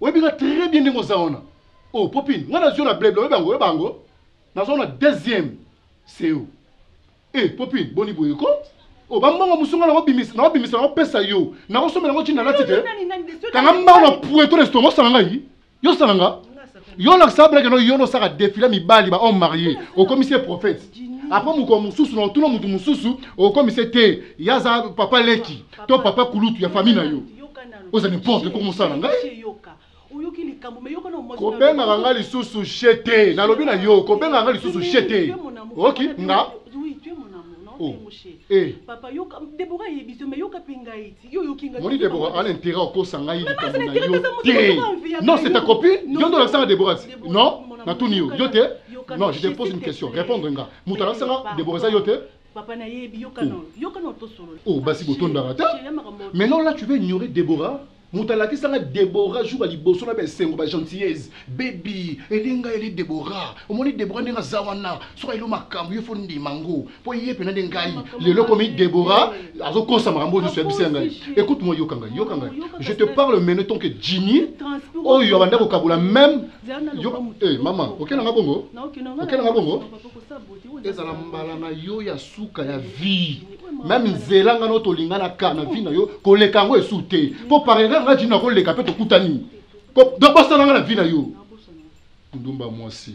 oyebi nga très bien ndenge oza wana oh popine nga nazwi yo na bleble oyebi yango oyeba yango nazwa na deuxième seo e eh, popine boni boye ko o oh, bambongo mosusu nga nakobimisa nakobimisa nakopesa yo nakosombela yango ntina nalati te kanga mbango na pueto na estongo osala ngai yo osala nga yo olakisa blake no yo nosaka defile mibali bahomme marie okomisi ye prophète apres mokolo mosusu na otuna motu mosusu okomisi te ye aza papa leki to papa kulutu ya famille na yo oza n'importe quoi mosala na ngai kobengaka nga lisusu she te nalobi na yo kobengaka nga lisusu she te oki nga oh. eh. moni debora ana intérêt okosa ngai likambo na yo te non c'est ta copine yo nde olakisanga debora non natuni yo yo te non je te pose une question répondre nga moto alakisanga debora eza yo te Papa na yebi yoka oh. non, yoka non to solo. Oh, basi ah, botondaka ta. Maintenant là tu veux ignorer Déborah moto alakisaka debora jour ya liboso na baesengo bagentillese bebi elinga eli debora omoni debora ndenge aza wana soki ayelo makambo yo fo ndima yango mpo ye mpena nde ngai lelo komi debora azokosa makambo oyo nyonso yabisi ya ngai écoute moi yoka ngai yoka ngai je te parle mene tant que jini oyo abanda kokabola meme eh, mama okenda nga bongo okenda nga bongo ezala mbala na yo ya suka ya vie meme nzela nga no tolingana ka na vie na yo koleka yango esu te mpo parera nga jini nakoleka mpe tokutani donc bosana nga na vie na yo ndumba mwasi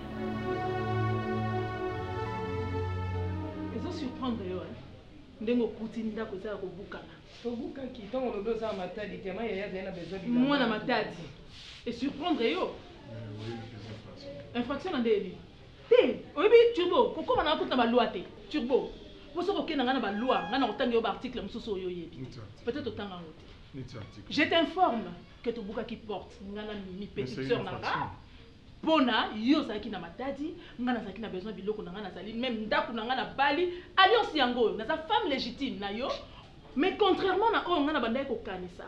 ezo surprendre yo hein? ndenge okuti ndako eza ya kobukana tobukaki ntango olobi oza na matadi te ma yaya azali na besoin mwana matadi esurprendre yo eh, infraction na nde ebi te oyebi turbo kokoma na kuta balwa te turbo mpo soki okenda ngai na balwa ngai na kotanga yo baarticle mosusu oyo oyebi peut-être otanga yango te je t'informe que tobukaki porte nga na mimi petite sœur na nga mpo na yo ozalaki na matadi nga nazalaki na besoin biloko na nga nazali meme ndako na nga na bali alliance yango oyo naza femme légitime na yo mais contrairement na oyo nga na bandaki kokanisa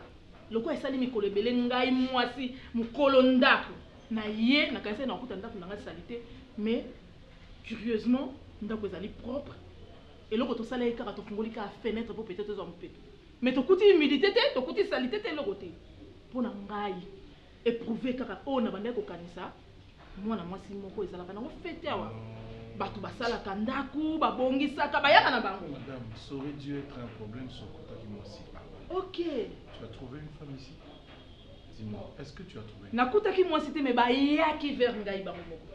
lokola esali mikolo ebele ngai mwasi mokolo ndako na ye nakanisaki nakokuta ndako na nga salite mais curieusement ndako ezali propre eloko tosala ye kaka tofungoli kaka fenêtre mpo peut-être ezwa mopepe Mais tokuti humilite te, tokuti salite te, eloko te. Pona ngai, eprouver kaka oyo nabandaki kokanisa, mwana mwasi moko ezalaka nango fete awa, batu basalaka ndaku, babongisaka, bayaka na bango. Madame, ça aurait dû etre un problème si okutaki mwasi awa. Ok. Tu as trouve une femme ici? Dis-moi, est-ce que tu as trouve? Nakutaki mwasi te mais bayaki vers ngai bango moko.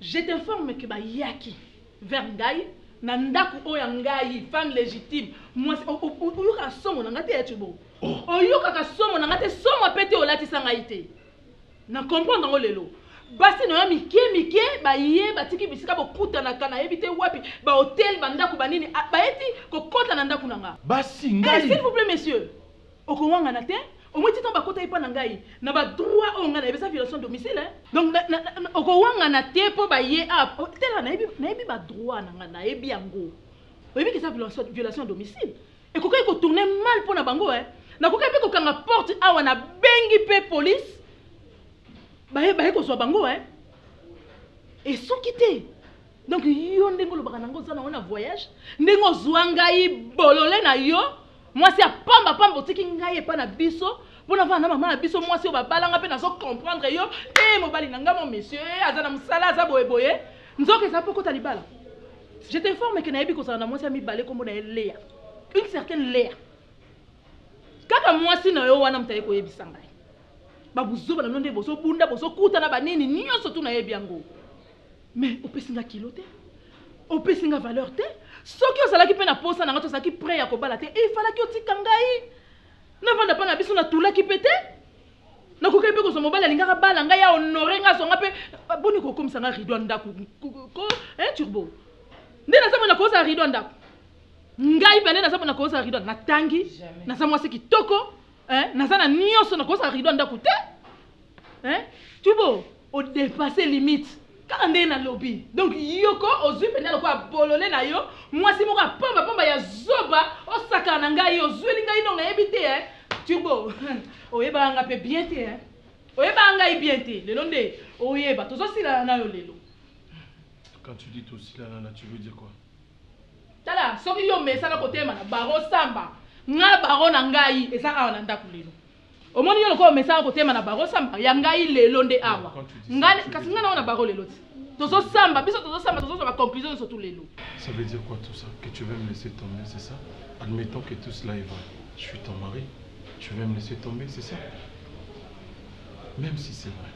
Je t'informe que bayaki. vers ngai na ndaku oyo ya ngai femme legitime mwasi oyokaka somo na ngai te ya cobo oh. oyokaka somo na ngai te somo mpe te olatisa ngai te na comprendre yango lelo basi na yo mike mike baye batiki bisika bokutanaka nayebi te wapi bahotel bandako banini ah, baye ti kokota na ndako na nga basi ngai eh, s'il vous plaît monsieur Okowangana te? Omoni ti tango bakota epa na ngai na ba droit oyo ngai nayebi eza violation domicile hein. Donc na, na, na, na okowangana te po baye awa ah, oh, tela nayebi nayebi ba droit na ngai nayebi yango oyebi ke eza violation, violation ya domicile ekokaki kotourne mal mpo na bango eh. nakokaki mpe kokanga porte awa nabengi mpe polise baye baye kozwa bango eh. esuki te donc yo ndenge olobaka nango oza nango na voyage ndenge ozwa ngai bolole na yo mwasi ya pamba pamba otiki ngai epa na biso mpo navana na mama na biso mwasi oyo babalanga mpe nazo comprendre yo te eh, mobali na ngai mo monsieur eh, aza na mosala aza boye boye nzoka eza mpo kota libala je t'informe ke nayebi kozala na mwasi ya mibale nkombo na ye lea une certaine lea kaka mwasi na yo wana moto aye koyebisa ngai babuzoba na bino nde bozobunda bozokutana banini nyonso tu nayebi yango mais opesi nga kilo te opesi nga valeur te soki ozalaki mpe na posa na nga tozalaki près ya kobala te il falaki otika ngai navanda mpa na biso natulaki mpe te nakokaki mpe kozwa mobali alingaka bala ngai ya honore ngai azwa ngai mpe boni kokomisa ngai rido ya ndako eh, turbo nde naza mona kozala rido ya ndako ngai bane naza mona kozala rido natangi naza mwasi kitoko eh, naza na nyonso nakozala rido ya ndako te eh, turbo O depasser limite kaka ndenge na lobi donc yoko ozui penza lokola bolole na yo mwasi moko ya pamba pamba ya zoba osakana na ngai ozueli ngai donc na yebi te eh turbo oyebaka nga pe bien te eh oyebaka ngai bien te lelo nde oyeba tozo silana na yo lelo quand tu dis tosilana na tu veux dire quoi tala soki yo mesana kotema na baro samba nga baro na ngai eza awa na ndaku lelo omoni yo lokola omesaka kotema na baro samba ya ngai lelo nde awa ngai kasi ngai naona baro lelo ti tozosamba biso tozosamba tozozwa baconclusion nyonso tu lelo ça veut dire quoi tout ça que tu veux me laisser tomber c'est ça admettons que tout cela est vrai je suis ton mari tu veux me laisser tomber c'est ça même si c'est vrai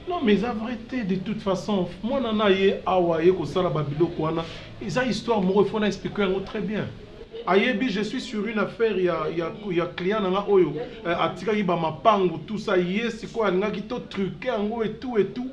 non mais eza vrai te de toute façon mwana na ye awa ye kosala babiloko wana eza histoire moko ifo na explike yango très bien Ayebi je suis sur une affaire ya ya ya client nanga oyo eh, atikaki ba mapangu tout ça ye sikoyo alingaki to truquer yango et tout et tout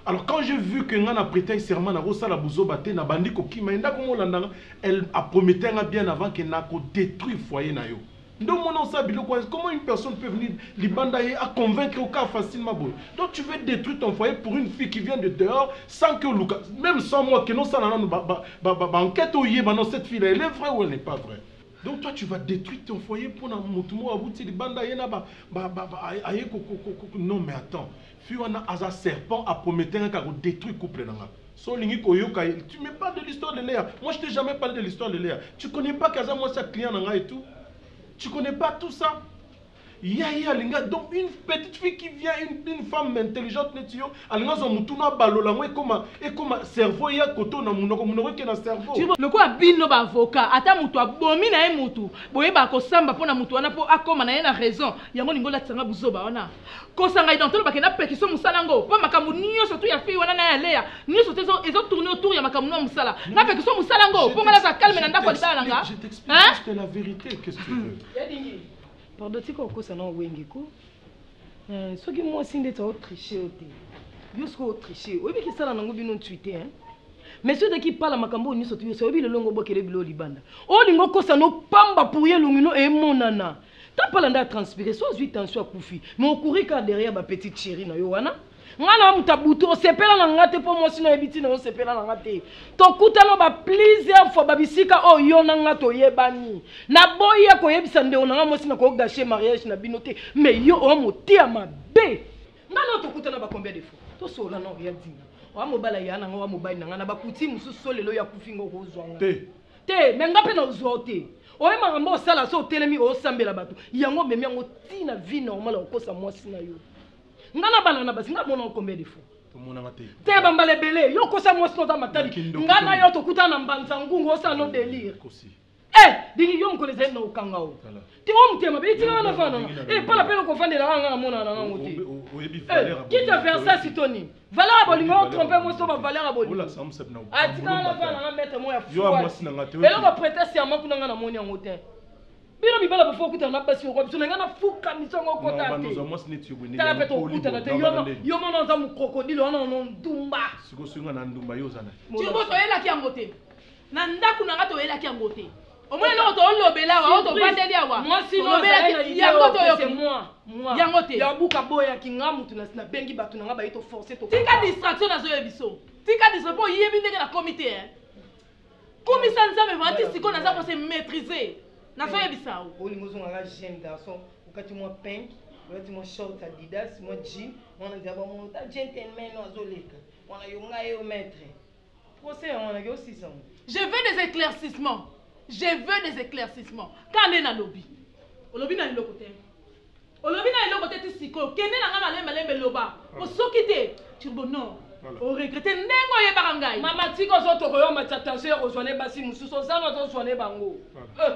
alors quand j'ai vu que nga na pretaille serment nako sala buzoba te na bandi kokima ye ndako molanda nga elle a promettait nga bien avant que nako detruire foyer na yo Nde omona oza biloko wana comment une personne peut venir libanda ye a convaincre yo kaka facilement boye donc tu veux détruire ton foyer pour une fille qui vient de dehors sans que oluka même sans moi que nosala nanu ba ba ba ba enquête oyeba non cette fille là elle est vraie ou elle n'est pas vraie Donc toi tu vas détruire ton foyer pona mutu moko abuti libanda ye na ba ba ba aye ko ko ko non mais attends Fille wana aza serpent a promettre nga ka ko detruire couple na nga so olingi ko yoka ye tu me parle de l'histoire de Lea moi je t'ai jamais parle de l'histoire de Lea tu connais pas que aza mwasi ya client na nga et tout tu connais pas tout ça ya ye alinga donc une petite fille qui vient une, une femme intelligente neti yo alinga azwa mutuna abalola yango ekoma ekoma cerveau ya koto na munoko munoko eke na cerveau lokola bino ba avocat ata mutu abomi na ye mutu boyeba kosamba mpo na mutu wana mpo akoma na ye na raison yango olingi olatisa nga buzoba wana kosanga ident toloba ke na pekiso mosala yango mpo makambo nyonso tu ya fille wana na ya leya nyonso te ezo tourne autour ya makambo na mosala na pekiso mosala yango mpo nga naza calme na ndako ya libala na nga pardon tika okosa na wenge ko eh, soki mwasi ndeti aotriche yo te yo soki otriche oyebi kisala nango bino ntui te mais soki ozalaki pala makambo oyo nyonso tu yoso oyebi lelo ngo obokele bilo libanda olingo okosa nopamba pour ye elongi no emonana eh, Tapala nda a transpire so azui tension akufi mais okuri kaka derrière ba petite chérie na yo wana nga na moto ya butu osepela na nga te mpo mwasi na oyebi ntina yo osepela na nga te tokutana ba plusieurs fois babisika oyo oh, yo na nga toyebani naboyi ya koyebisa ndeko na nga mwasi na kogashe mariage na bino te mais yo oyo motia mabe nga na tokutana ba combien de fois tosola na oya dina oya mobala ya na nga oya mobali na nga na bakuti mosusu so lelo ya kufi nga okozwa nga te me nga mpe na ozwa yo te oye makambo osala so otelemi osambela bato yango omemi yango ti na vie normal ya kokosa mwasi na yo nga na bana na basi nga mona okombe defo te bambala ebele yo okosa mwasi noza matali nga na yo tokutana na mbanza ngungu osala no delire e eh, dingi yo mokolo ezali na okanga o te wa motema be etika wana fana epala mpe nokovandela kaka nga namona na ngango te kite versa sitoni valeur ya bolingo otrompe mwasi to bavaleur ya bolingo atika wana fana nanga maître mo ya fueloko prete serment kuna nga namoni yango te bino mibala bofo okutana na basi yoko biso na ngai nafuka miso yango okota te tala mpe tokutana te yo mona oza mokrokodile wana ono ndumba sikoyo soki nga na ndumba yo oza na yango te na ndako na ngai toyelaki yango te omoni eloko tolobela awa oyo tofandeli awa yango toyoki yango te yabuka boyaki nga motu nabengi bato na nga baye toforce tika distraction nazoye biso tika distraction mpo oyebi ndenge nakomi te eh. kumisa nzambe vanti sikoyo naza kose maîtrise nazoyebisa o olingi ozongaka jeune garçon okati mwa pink olati mwa short adidas mwa jean mwana nzaba mwana ta gentleman azoleka mwana yo ngai yo maître Procès yango wana yo sisa ngo. Je veux des éclaircissements. Je veux des éclaircissements. Ka nde na lobi. Olobi na eloko te. Olobi na eloko te ti siko. Kende na nga malembe malembe loba. Ah. Po soki te turbo non. O regretter ndenge oyebaka ngai. Mama tika ozo toko yo matata nse ozwa ne basi mususu ozana ozo zwa ne bango. Euh.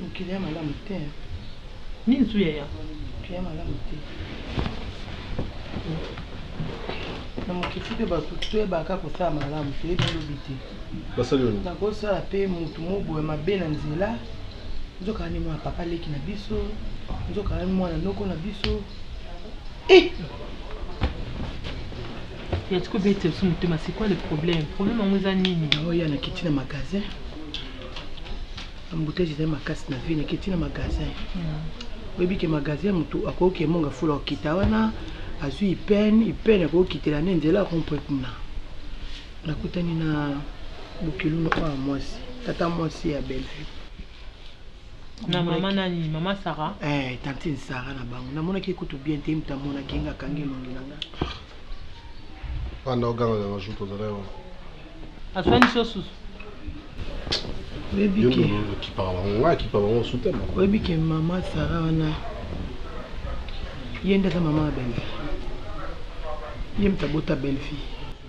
mokili ya malamu te nini su yaya mokili ya malamu te na mokili mpe bato toyebaka kosala malamu toyebi lobi te nakosala mpe motu moboya mabe na nzela nzoka ni mwana papa leki na biso nzoka ni mwana noko na biso eh! ya tiko bete biso motema c'est quoi le problème problème yango eza nini oya nakiti na magasin embouteille ezali makasi na vie nakiti na magasin hmm. oyebi ke magasin motu akoki kemonga fula okita wana azwi ipene ipene akoki kitela nde nzela akompre kuna nakutani na bokiluna oyo mwasi tata mwasi ya bellevue na mama nani mama sara eh, tantine sara na bango namonaki ye kutu bien te mta amonaki nga akangi elongi na nga panda oganga ganga jour tozala yo aswanisi yo susu oyebi ke okipa bango nga akipa bango osutema oyebi ke mama sara wana ye nde aza mama ya bellevie ye mta bota bellevie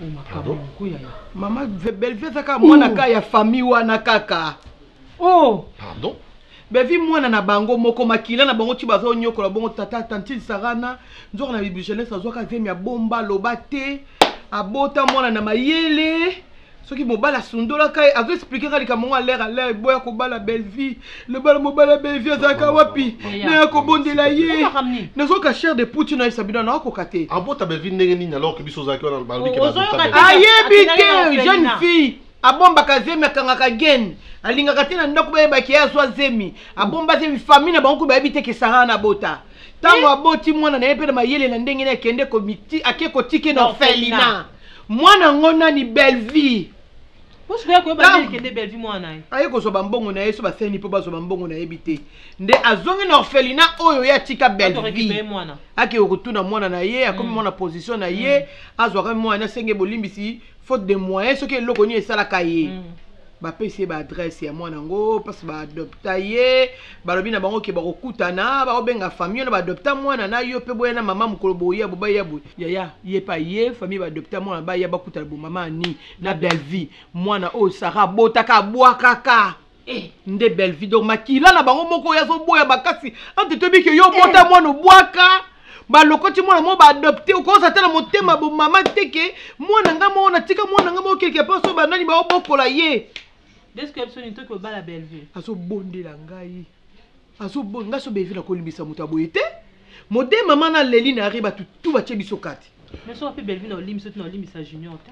oh, makambo moko yaya mama bellevie aza kaka mwana ka ya famille wana kaka Oh! Pardon? Bevi mwana na bango moko makila na bango ti bazo nyokola bongo tata tantine Sarana nzoka na bibi jeunesse azwaka zemi ya bomba loba te abota mwana na mayele soki mobali asundolaka ye azo explike ka likambo ngo alere alere boya kobala belvie lobala mobali ya belvie azalaka wapi naya kobondela ye nazoka chere de puti nayebisa bino naokoka te abota belvie ndenge nini alors ke biso ozalaki wana ayebi te jeune fille abombaka zemi akangaka gene alingaka te na ndako bayebaki ye azwa zemi abomba zemi fami na bango kutu bayebi te kesara na bota ntango aboti mwana na ye mpe na mayele na ndenge ne akende ake kotike na orphelina mwana yango nani bellevie aye kozwa bambongo na ye so baseni mpo bazwa bambongo na yebi te nde azongi na orphelina oyo ye atika bellevie akei kotuna mwana na ye akomi mm. mwana position na ye mm. azwaka mwana asenge bolimbisi faute de moyen soki eloko nini esalaka ye mm. bapesi ye baadresse ya mwana yango mpasi baadopta ye balobi na bango ke bakokutana bakobenga famille wana baadopta mwana na yo mpe boya na mama mokolo boya bobaya boye yaya ye mpe aye famille baadopta mwana baya bakutana bomama ani na bellevie mwana oyo sara abotaka abwakaka Eh, nde bellevie donc makila na bango moko oyo azoboya makasi ante toyebi ke yo obota eh. mwana obwaka balokoti mwana moko baadopte okoza ata na motema bomama te ke mwana nga moko natika mwana nga moko quelque part so banani baobokola ye azobondela ngai azobondela ngai so bellevie nakolimbisa moto ya boye te mode mama na leli na yari bato tu batye biso kati mais soki mpe bellevie na olimbi soki na olimbisa junior te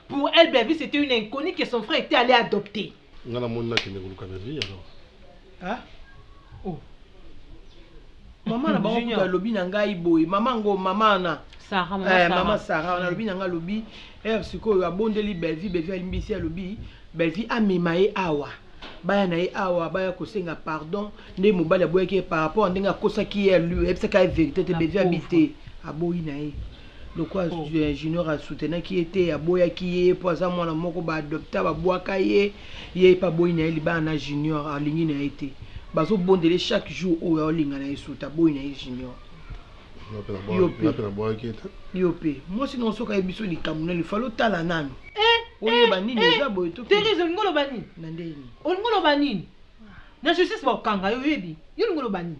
Pour elle Bellevue c'etait une inconnue que son frère etait allait adopter. Nga na moni na kende koluka Bellevue alors. Hein? Oh. Maman na bango kutu alobi na ngai boye maman ngo maman na Sarah, maman, eh, Sarah. maman Sarah on alobi na ngai alobi heure sikoyo abondeli Bellevue Bellevue alimbisi alobi Bellevue amema ye awa baya na ye awa baya kosenga pardon nde mobali aboyaki ye par rapport ndenge akosaki ye ayebisaki ye verité te Bellevue abi te aboyi na ye lokola oh. junior asoutenaki ye te aboyaki ye mpo aza mwana moko baadopta babwaka ye ye mpe aboyi na ye libala na junior alingi na ye te bazobondele chaque jour oyo aolinga na ye suta aboyi na ye junior yo mpe mwasi nao soki aye biso likambo na lifali otala nano eh, oyeba eh, nini eh, eza boye toterese olingi oloba nini na ndenge nini olingi oloba nini na justice bakokanga yo oyebi yo olingi oloba nini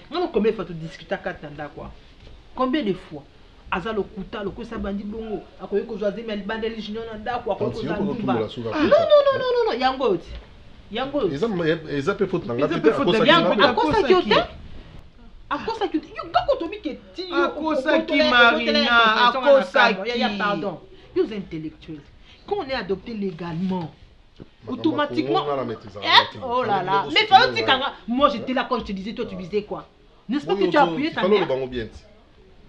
Mona combien de fois to discuta kati na ndako awa? Combien de fois? aza lokuta lokosa bandi bongo akoki kozwa zemi ya libanda eli junior na ndako akoki kozwa ndumba nonononono yango oyo ti yango oyo eza mpe faute na ngai mpe akosaki yo te akosaki yo te yo kaka otobi ke ti yo akosaki marina akosaki pardon yo oza intellectuel quand on est adopté légalement automatiquement eh, oh là là mais fallait dire kanga moi j'étais là quand je te disais toi tu disais quoi n'est-ce pas que tu as appuyé ta mère bango bien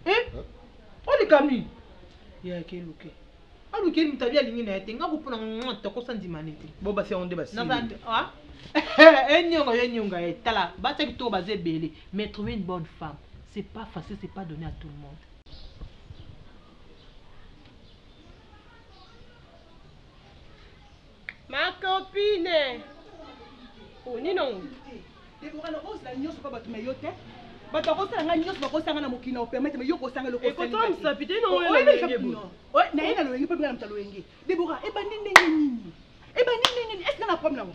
eh hein? oh les kami ya ke luke aluki mutu abi alingi na ye te nga kopona nga tokosa ndima ne te bo basi yango nde basi ah? enyonga yo enyonga ye tala basi kitoko baza ebele mais trouver une bonne femme c'est pas facile c'est pas donné à tout le monde Ma copine. Oh, ni non. Deborah, na ose la nyoso pa batu me yo te. Batu akosala nga nyoso bakosanga na mokili na opermete me yo kosanga eloko osali. Ekotomisa pite ino oyo na loyenge boye. Oyo na ye na loyenge pe bina na mta loyenge. Deborah, ebandi ndenge nini? Ebandi ndenge nini? Est-ce que na problème na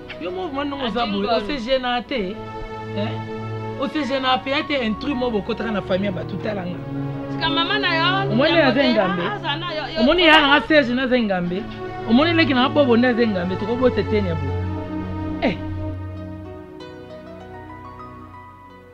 yo moko mwa ndongo oza boye osegena te osegena mpe ate intrus moko bokotaka na famille ya bato talanga omoni aza engambe omoni ya nanga serge naza engambe omoni leki nanga bobo nde aza engambe tokobota eteni ya boye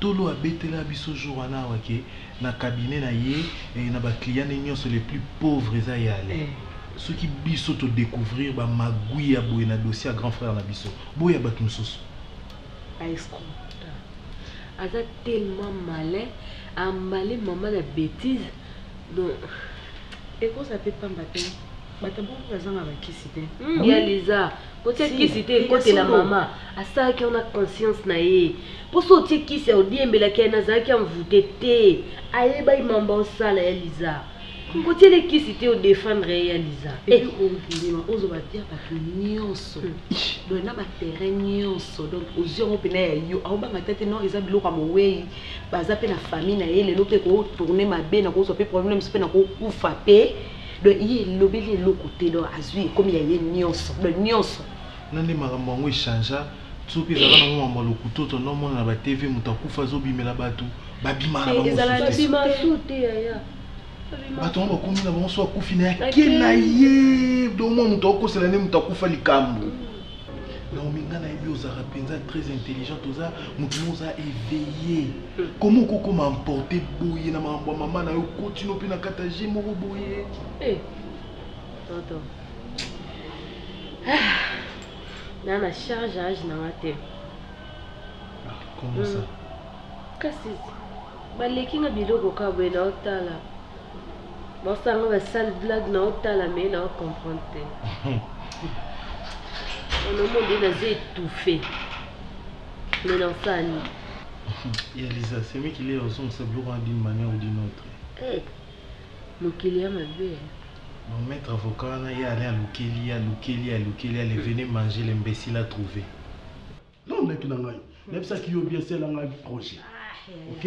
Tolo abetela biso jour wana awa que na cabinet na ye eh na ba clients ne nionso les plus pauvres eza ye ale. Soki biso to decouvrir ba magouilles ya boye na dossier ya grand frère na biso, boya batu mosusu. Ba escrocs. Aza tellement malin a emballer maman na betise donc ekosa pe pamba tein. Bato ya bongo bazanga ba kisi tein. Hum ya Liza. Botie kisi te ekotela mama asalaki yango na conscience na ye mpo so otie kisi ya odiembelaki ye nazalaki envoute te ayebaki mambo aosala ya liza kokotiele kisi te odefendre ye ya liza eokondima eh. ozoba dia bato nyonso boye hmm. na baterrain nyonso donc ozwi yango mpena ya yo aobanga te te non eza biloko ya mowei baza mpe na famille na ye lelo mpe kotourne mabe nakozwa mpe problème mpe nakokufa mpe donc ye elobeli eloko te donc azwi ekomi ya ye nyonso donc nyonso na nde makambo yango echangea soki ezalaka nango makambo ya lokuto to naomona na batv moto akufa azobimela bato babima na bango bato yango bakomi na bango so akufi na yake na ye donc mwa moto akokosela nde moto akufa likambo Naomi nga nayebi ozalaka mpenza très intelligente oza motu mo oza éveillé koma okokoma emporte boye na makambo ya mama na yo kotino mpe na kata je moko boye eh, toto ah, na na charge age na nga te ah, comment ça hmm. kasi baleki nga biloko ka boye na otala Bossa nga ba sale blague na otala mais na comprendre te. On a monde na zé étouffé. Mais dans ça ni. Ya Lisa, c'est moi qui l'ai reçu sa bureau d'une manière ou d'une autre. Eh. Mokili ya mabe. Mon maître avocat na ya aller à Lukeli, à Lukeli, à Lukeli, allez venez manger l'imbécile à trouver. Non, mec na ngai. Nayebisaki yo bien sela ngai projet. Ah, OK?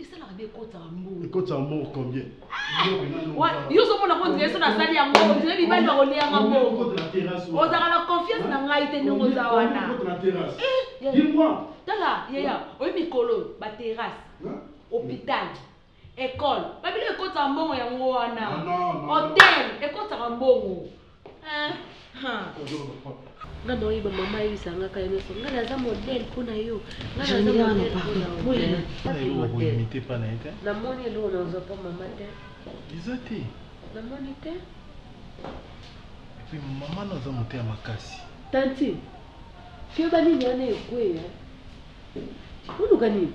esalaka nde ekotaka mbongo ekotaka mbongo combien yo ozomona ko ndire so nasali yango ondire bibali bakoliyanga mbongo ozalaka na confiance na ngai te ndenge oza wana eh, tala yaya oyo mikolo baterrasse hôpital ekole babilo ekotaka mbongo yango wana hotel ekotaka mbongo nga na oyeba mama ayebisa nga kala nyonso nga naza modele mpo na yo namoni eloko nazwa mpo mama te eza te namoni te epuis mama naza moto ya makasi tanti keba nini wana ekweya oluka nini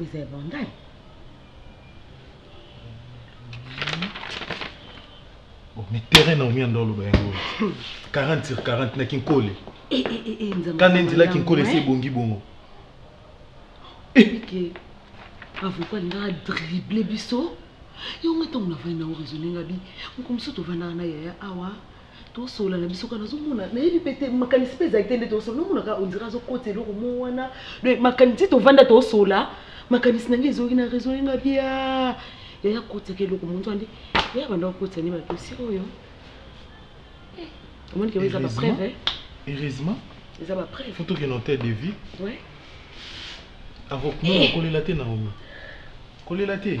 Eza ya Bandai. Bon, mais terrain na omia ndolo ba yango. 40 sur 40 na Kinkole. Eh eh eh, eh nzambe. Kana ndila Kinkole se bongi bongo. Eh. Okay. Avocat nga dribble biso. Yo nga tango na vana na raisonner nga bi. Mokomuso to vana na yaya awa. tosolola na biso kaka nazomona nayebi mpe te makanisi mpe ezali te nde tosolola nomona kaka ondire azokota eloko mo wana donc makanisi tovanda tosolola makanisi na ngai ezoki na raisonne nga bia yaya kotisaka eloko monzo ande yaya banda kokotisa nde badosi oyo eh, omoni keba eza bapreve heureusement eza bapreve fo tokende hotel de vie avokolela te naomi kolela te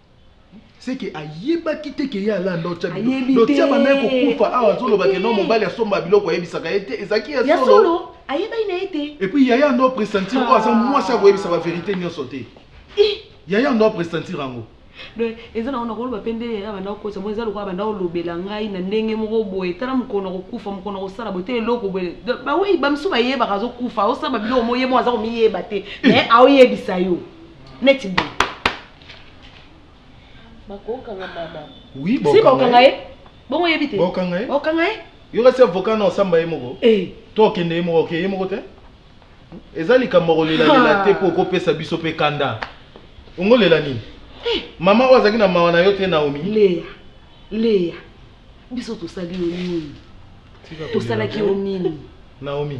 seke ayebaki te ke ye alanda otya bilotya banda kokufa awa azoloba ke no mobali asomba biloko ayebisaka ye te ezalaki ya solo ayebaki na ye te epuis yaya ando apresentir oyo aza mwasi akoyebisa baverité nyonso te yaya ando apresentir yango donc eza nango nakoloba mpe nde yaya banda kokosa moi eza lokola banda kolobela ngai na ndenge moko boye tala mokolo na kokufa mokolo na kosala boye te eloko boye bawei bamisu bayebaka azokufa osala babiloko moye mo aza komiyeba te mais aoyebisa yo neti boye bakokanga mama oui si bakokanga ye bongo oyebi te bakokanga ye bakokanga ye yo kasi avocat na osamba ye moko eh. to okende ye moko okeye ye moko te eza likambo kolelalela te mpo okopesa biso mpe kanda ongolela nini eh. mama oyo azalaki na mawa na yo te naomi leya leya biso tosali yo nini tosalaki yo nini naomi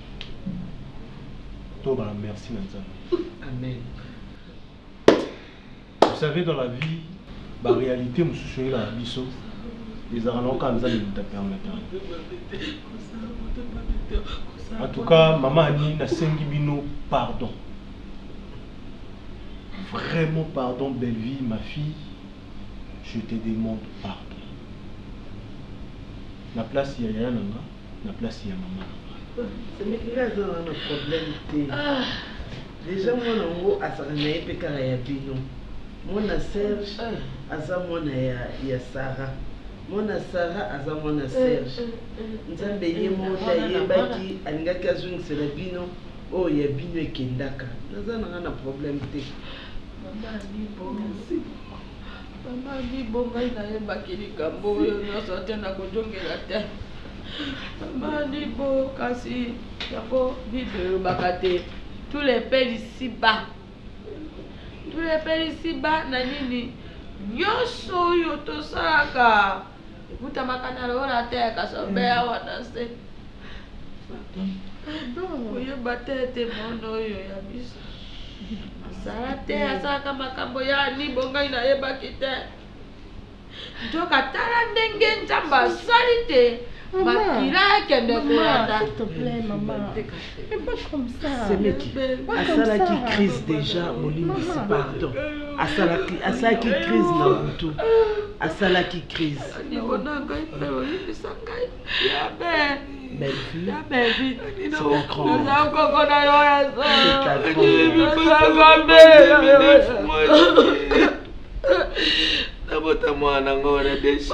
Toba la merci na Nzambe. Amen. Vous savez dans la vie ba réalité mususu ela na biso ezalaka na oka Nzambe muta permettre. En tout cas maman Annie nasengi bino pardon. Vraiment pardon Bellevue ma fille je te demande pardon. Na place ya yaya na nga na place ya maman na nga. C'est mais il a aza na na problème te. Déjà mwana ngo azala na ye pe kaka ya bino. Mwana Serge aza mwana ya ya Sarah. Mwana Sarah aza mwana Serge. Nzambe ye moko nde ayebaki alingaki azongisela bino oyo ya bino ekendaka. Naza na nga na problème te. Maman Nico merci beaucoup. Mama Bibo, ngai nayebaki likambo oyo nyonso te, nakojongela te. Mama Bibo, kasi yango Bible elobaka te. Tous les pays ici bas tolebelisi bana nini nyonso oyo tosalaka Ekutamaka na lola te kasobe mm. awa na se koyeba te ete mono oyo ya biso asala te mm. asalaka makambo ya nibo ngai nayebaki te nzoka tala ndenge nzambe asali te makila ekende kolanda semeki asalaki crise déjà molimbisi pardon asalaki asalaki crise na butu asalaki crise nabota mwana ngo na desi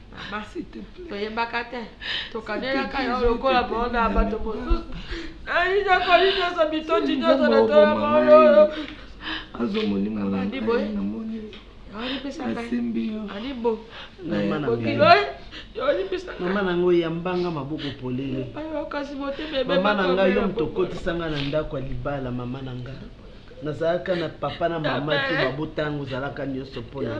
toyebaka te tokanelaka yo lokola baona ya bato mosusu ayinakoli nyonso mitondi nyonso na tola maoyoyo azwa molimo na ngai namoni asimbi yo alibo bokilo mama na ngai oyambanga maboko polele mama na ngai yo moto okotisa ngai na ndako ya libala mama na ngai nazalaka na papa na mama te babotango ozalaka nyonso mpo na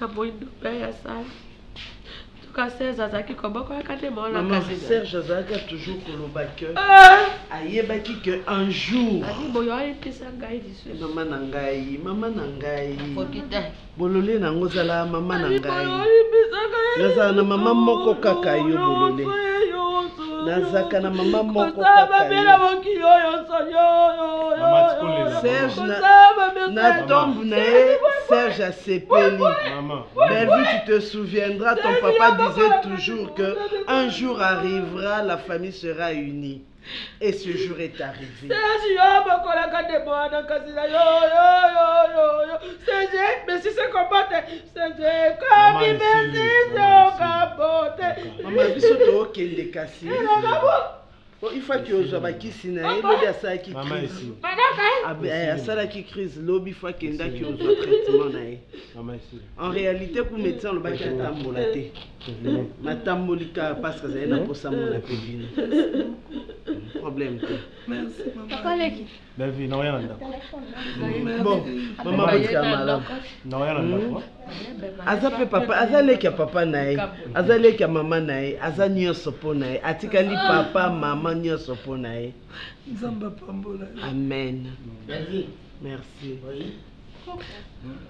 na moindo mpe ya sala tuka serge azalaki kobokolaka te monaserge azalaki toujours koloba ke ah! ayebaki ke un jour boyo ayebisa ngai lisusu mama na ngai mama na ngai bolole na yango ozala mama na ngai nazala na mama moko kaka yo bolole nazalaka na mama moko na tombe na ye serge asepeli bellevue tu te souviendras ton papa disait toujours que un jour arrivera la famille sera unie et ce jour est arrivé Serge yo bokolaka nde mwana kasi na yo yo yo yo yo Serge mesi se kombote Serge komi mesi se okabote mama biso tokende kasi po ifaki ozwa bakisi na ye lobi asalaki crise eh, asalaki crise lobi fo akendaki ozwa traitement na ye en réalité ku médecin olobaki atambola te matamboli kaka paske azali na mposa mona mpe bino problème te bellevue naoya na ndako bon mama botika malamu naoya na ndako hmm? aza mpe papa aza leki ya papa na ye aza leki ya mama na ye aza nyonso mpo na ye atikali ah. papa mama nyonso mpo na ye nzambe apambola amen merci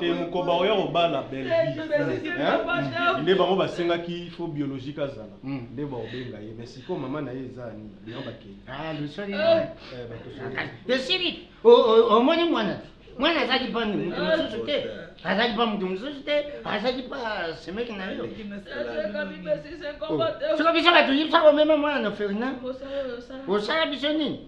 te mokoba oya kobala belvnde bango basengaki fo biologique azala hmm. nde baobenga ye mais sikoyo mama na ye eza nini bino bakei ah, eh, omoni mwana mwana azali mpa moto mosusu te azali mpa moto mosusu te azali mpa semeki na yo soki biso bato yebisa komema mwana na fernand osala biso nini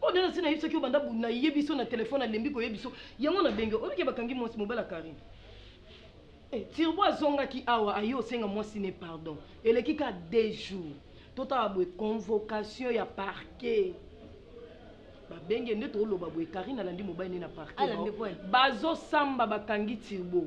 oyo nde nasi nayebisaki yo banda bunda yebi so na telefone alembi koyebi so yango na benge oyoki bakangi mwasi mobala karine Eh, tirbo azongaki awa aye osenga mwasi ne pardon eleki ka deux jours totala boye convocation ya parquet babenge nde tooloba boye karine alandi mobali ne na parquet bazosamba bakangi tirbo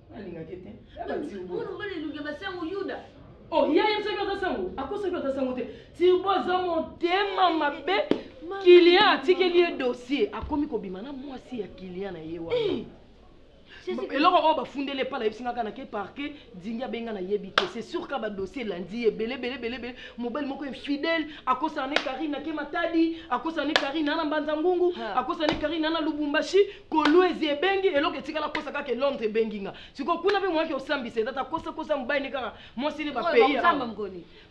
nalingaki te mobali elongi ya basango yuda oh ya ye soki aza sango akosaki aza sango te tirbo aza motema mabe kilian atikeli ye dossier akomi kobima na mwasi ya kilian na ye wana eh! eloko oyo bafundeli epa nayebisi nga kaka nake parke dingi abenga nayebi te c'est sûr ka badossier elandi ye ebele ebele ebele ebele mobali moko infidèle akosana ne karine nake matadi akosana ne karine ana mbanza ngungu akosana ne karine ana lubumbashi Kolwezi ebengi eloko etikala kosa kaka Londres ebengi nga siko kuna pe mwaki osambisa etata kosa kosa mobali ne kaka mwasi ne ba pays awa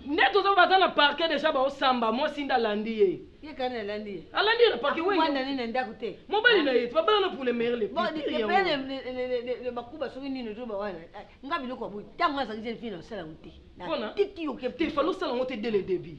nde tozo baza na parquet deja ba osamba mwasi nda landi ye ye kani alandi ye alandi ye na parquet wewe mwana nini ndaku te mobali na ye tu babala na pour le meilleur le pire bon le pire le bakuba soki nini to ba wana eh, nga biloko boy tango azali jeune fille na sala ngute na tiki yo ke te falo sala ngote dès le début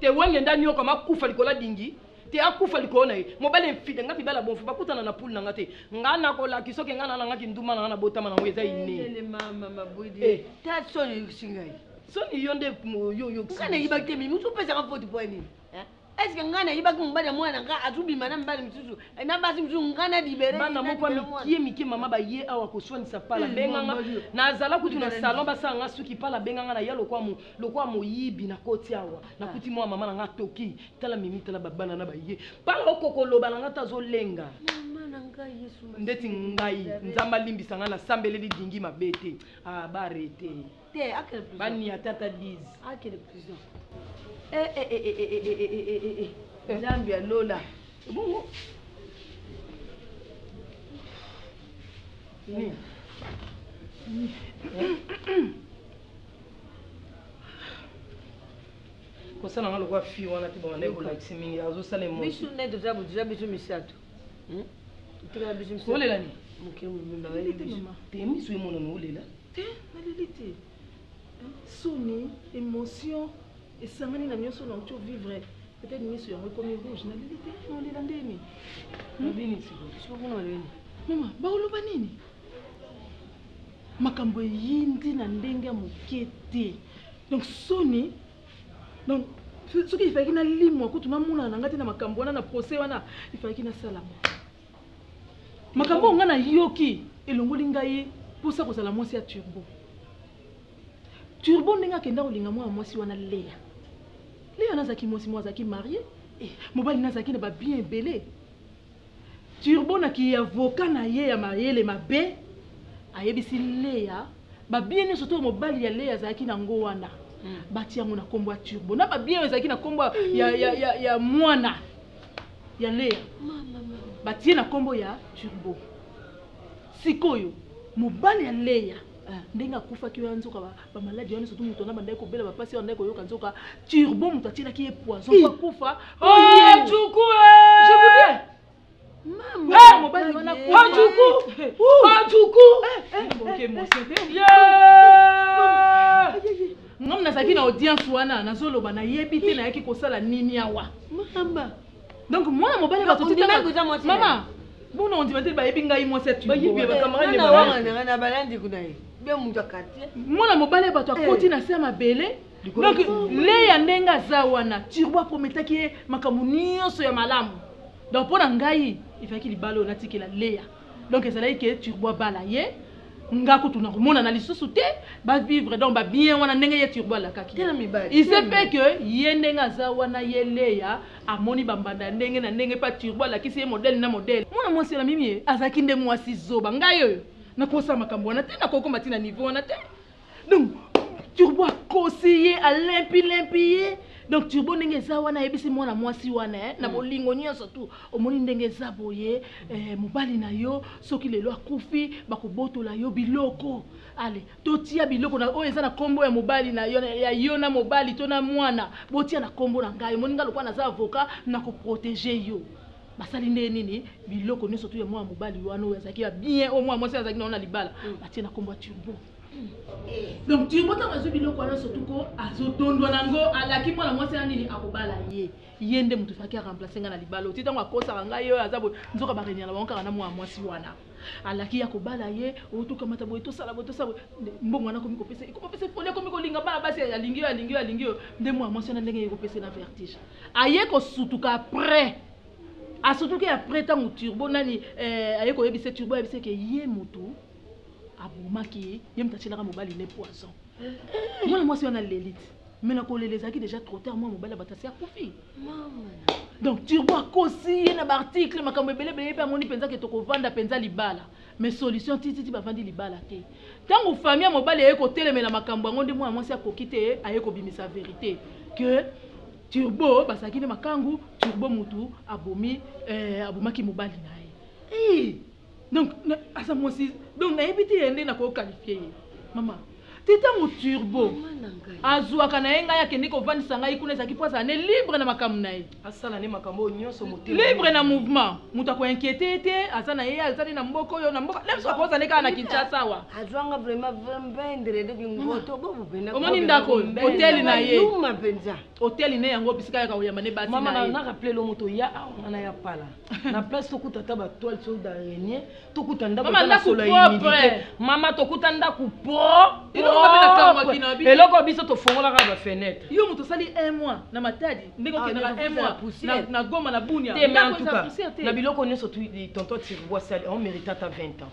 te wenge nda nioka makufa likolo adingi te akufa likolo na ye mobali enfide nga mibali ya bonfo bakutana na pule na nga te nga nakolaki soki nga nana nga kinduma na nga nabotama na yango eza ineesingai soni yo nde yoyoyokanaibaki te mimi topesaka foti po ya nini eske ngai nayibaki mobali ya mwana ngai azobima na mibali mosusu eh, na basi mosusu ngai na libere bana moko mikie mikie mama baye awa koswanisa pala eh, benganga nazala kutu na salon basala nga suki pala benganga na ya lokwa lokola moyibi nakoti awa nakuti ah. mwa mama na nga toki tala mimi tala babana na baye mpanga okokoloba na nga te azolenga ndeti ngai nzambe alimbisa ngai nasambeleli dingi mabe te ah, barete bania tata diz nzambe ya lola bongo nini kosala nga lokola fille wana te banda ekolakisi mingi azosala bisu nde toza boza bisu misato hmm? tika bisu misato olela ni mokili mobimba te misu emonana olela te naleli te soni émotion esangani na nyonso na oco vivre peut-être misu yango ekomi rouge naleli te olela ndeni nabini sikoyo sikoyo kuna oleli mama baoloba nini makambo eyindi na ndenge ya moke te donc soni donc soki ifalaki nalimwa kutu namonana na ngai te na makambo wana na procès wana ifalaki nasalama makambo oyo ngai nayoki elongoli ngai mposa kozala mwasi ya turbo turbo ndenge akenda kolinga mwana mwasi wana leya leya nazalaki mwasi moko azalaki marie eh, mobali nazalaki na babien ebele Turbo na ki avocat na ye ya mayele mabe ayebisi Lea ba biens nionso to mobali ya Lea azalaki na ngo wana batia yango na kombo ya Turbo na ba biens oyo ezalaki na kombo ya, ya, ya, ya mwana ya Lea batie na kombo ya Turbo. Sikoyo mobali ya Lea ndenge akufaki wana nzoka ba bamaladi wana soki moto wana bandaki kobela bapasi oyo andaki koyoka nzoka turbo moto atielaki ye poison po akufa ngam nazalaki na audience wana nazoloba nayebi te nayaki kosala nini awa donc mwana mobali bato titanga mama bona ondima te bayebi ngai mwasi ya tuiana balandi kuna ye be moto ya quartier mwana mobali ya bato akoti eh. na se ya mabele donc leya ndenge aza wana turbo aprometaki ye makambo nyonso ya malamu donc mpo na ngai ezalaki libala oyo natikela leya donc ezalaki ke turbo abala ye nga kutu nakomonana lisusu te bavivre donc babien wana ndenge ye turbo alakaki il se fait que ye ndenge aza wana ye leya amoni bambanda ya ndenge na ndenge pa turbo alakisi ye modele na modele mwana mwasi wana mimi azalaki nde mwasi zoba ngai oyo nakosa makambo wana te nakokoma ntina niveau wana te donc turbo akosi ye alempi lempi ye donc turbo ndenge eza wana ayebisi mwana mwasi wana eh, na mm. bolingo nyonso tu omoni ndenge eza boye eh, mobali na yo soki lelo akufi bakobotola yo biloko ale totia biloko na oyo eza na nkombo ya mobali na yo ya yo na mobali to na mwana botia na nkombo na ngai omoni ngai lokola naza avoka na koprotege yo basali nde nini biloko nyonso tu ya mwana mobali wana oyo azalaki ya bien oyo mwana mwasi azalaki na wana libala mm. batie na nkombo ya turbo donc turbo ntango azwi biloko wana surtout ko azotondwa nango alaki mwana mwasi ya nini akobala ye ye nde moto faki aremplace ngai na libala oti ntango akosaka ngai ye oyo aza boye nzoka barenyana bango kaka na mwana mwasi wana alaki ya kobala ye otokamata boye tosala boye tosala boye mbongo wana akomi kopesa ekomopesa efoli akomi kolinga bana basi alingi yo alingi yo alingi yo nde mwana mwasi wana ndenge ekopesa na vertige aye kosutuka après asutuki après ntango turbo nani eh, aye koyebisa turbo ayebisa ke ye motu abomaki ye ye moto atyelaka mobali ne poison mwana mwasi wana lelite mais nakolela ezalaki déjà trop tard mwa mobali abatasi akufi donc turbo akosi ye na baarticle makambo ebele ebele ye mpe amoni mpenza ke tokovanda mpenza libala mais solution tititi bavandi libala te ntango famille ya mobali aye kotelemela makambo yango nde mwana mwasi akoki te aye kobimisa verité que turbo bazalaki nde makangu turbo mutu abomi eh, abomaki mobali na ye donc aza mwasi donc nayebi te yende na kokalifie ye mama te ntango turbo azwaka na ye ngai akende kovandisa ngai kuna ezalaki mpo azala ne libre na makambo na ye asala ne makambo oyo nyonso libre na mouvement moto akoinquiete ye te aza na ye aza ne na mboka oyo na mboka na biso akoza ne kaka na kinshasa awa azwanga vraiment vendredi kingoto omoni ndako hoteli na ye Hotel ne yango bisika ya kaoyamba ne basi na ye. Mama na rappeler lo moto ya awa ngana ya pala. Na place to kuta ta ba toile so d'araignée, to kuta ndaku mama na sola humidité. Mama to kuta ndaku pro. Eloko biso to fongola ka ba fenêtre. Yo moto sali un mois na matadi ndenge ah, okenda ka un mois na na goma na bunia. Te mais en tout cas na biloko nyoso tu tonton Tirwa sali on merita ta 20 ans.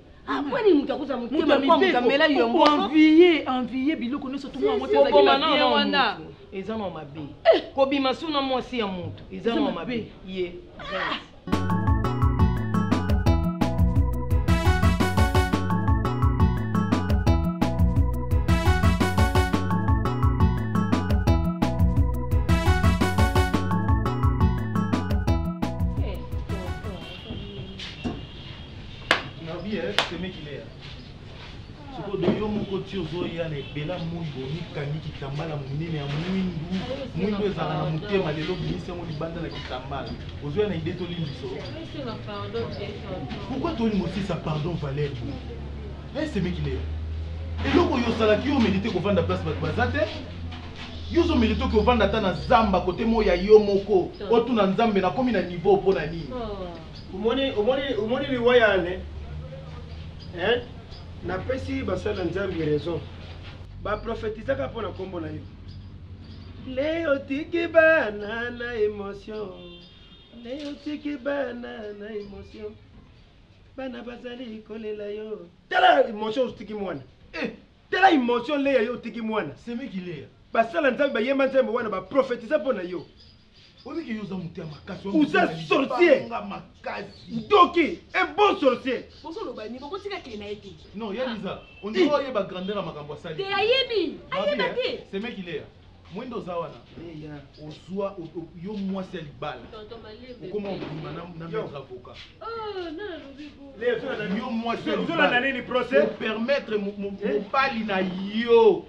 akwani moto akozala motema moto amela yo envie envie biloko nyonso tokoboma na yo wana eza na mabe eh! kobima so na mwasi ya moto eza na mabe ye Nabi eh semeki lea. Siko de yo moko ti ozoya na ebela moi bomikangi kitambala monene ya mwindu mwindu ezala na motema lelo bimisi yango libanda na kitambala ozoya na ide tolimbiso pourkui tolimosisa pardon valer esemeki lea eloko oyo osalaki yo melite kovanda place bato baza te yo ozomeli toki ovanda ata na zamba kote moi ya yo moko otuna nzambe nakomi na niveau mpo na nini oh. Omoni, omoni, omoni liwa ya Anne eh? Napesi basali na Nzambe raison, baprofetizaka mpo na nkombo na yo. Leo tiki bana na emotion, leo tiki bana na emotion, bana bazali kolela yo. Tala emotion otiki mwana eh. Tala emotion Lea yo otiki mwana. Semeki Lea. Basala Nzambe bayemba nzembo wana baprofetiza mpo na yo. Oliki yo oza moto ya makasi. Oza sorcier. Nga makasi. Ndoki, un bon sorcier. Bozo loba ni boko tika kile na ye te. Non, ya Lisa, on dirait oye ba grandeur ya makambo asali. Te ayebi, ayeba te. Eh, c'est mec il est. Mwende oza wana. Leya. Ozwa yo mwasi ya libala. Tonton Malembe. Okoma obima na na maître avocat. Oh, na na lobi bo. Leya, yo mwasi ya libala. Ozo na nini procès? Permettre eh? mobali na yo.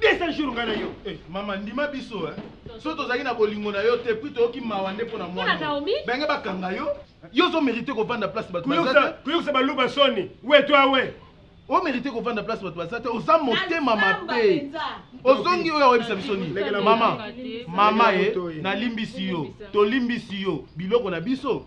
200 jours ngai na yo eh, mama ndima biso eh. so tozalaki na bolingo na yo te puis toyoki mawa nde mpo na mwana benge bakanga yo yo ozo mérite kovanda place bato koyokisa baluba soni we to awe o mérite kovanda place bato baza te oza motema mabe ozongi oyo akoyebisa biso nini mama mama ye eh, nalimbisi yo tolimbisi yo biloko na biso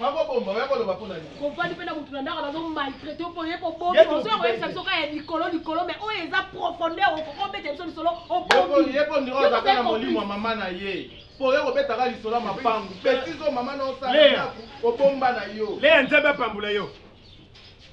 Bako bomba oya ko loba pona nini? Comprendre pe na mutu na ndako bazo maltraite yo po ye ko bomba ozo ya ko yebisa biso ka ya likolo likolo mais oyo eza profondeur oko ko beta biso lisolo o bombi. Ye po ndiro aza kana molimo ya mama na ye. Po oya ko beta ka lisolo ya mapangu. Petit zo mama na osala ndako obomba na yo. Lea nzambe apambula yo.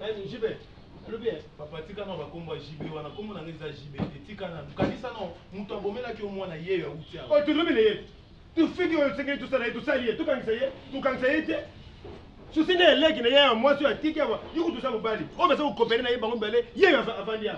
Nani JB alobi eh. Papa tika na ba kombo ya JB wana kombo na ngai eza JB te tika na kanisa na mutu abomelaki yo mwana yeyo ya uti awa. Oh tu lobi na ye. Tu fiki oyo tsengeli tu sala ye tu sali ye tu kangisa ye tu kangisa ye te. Susi na eleki na ye ya mwasi oyo atiki awa yo kutu oza mobali oyo baza kokopere na ye bango mibale yeyo avandi awa.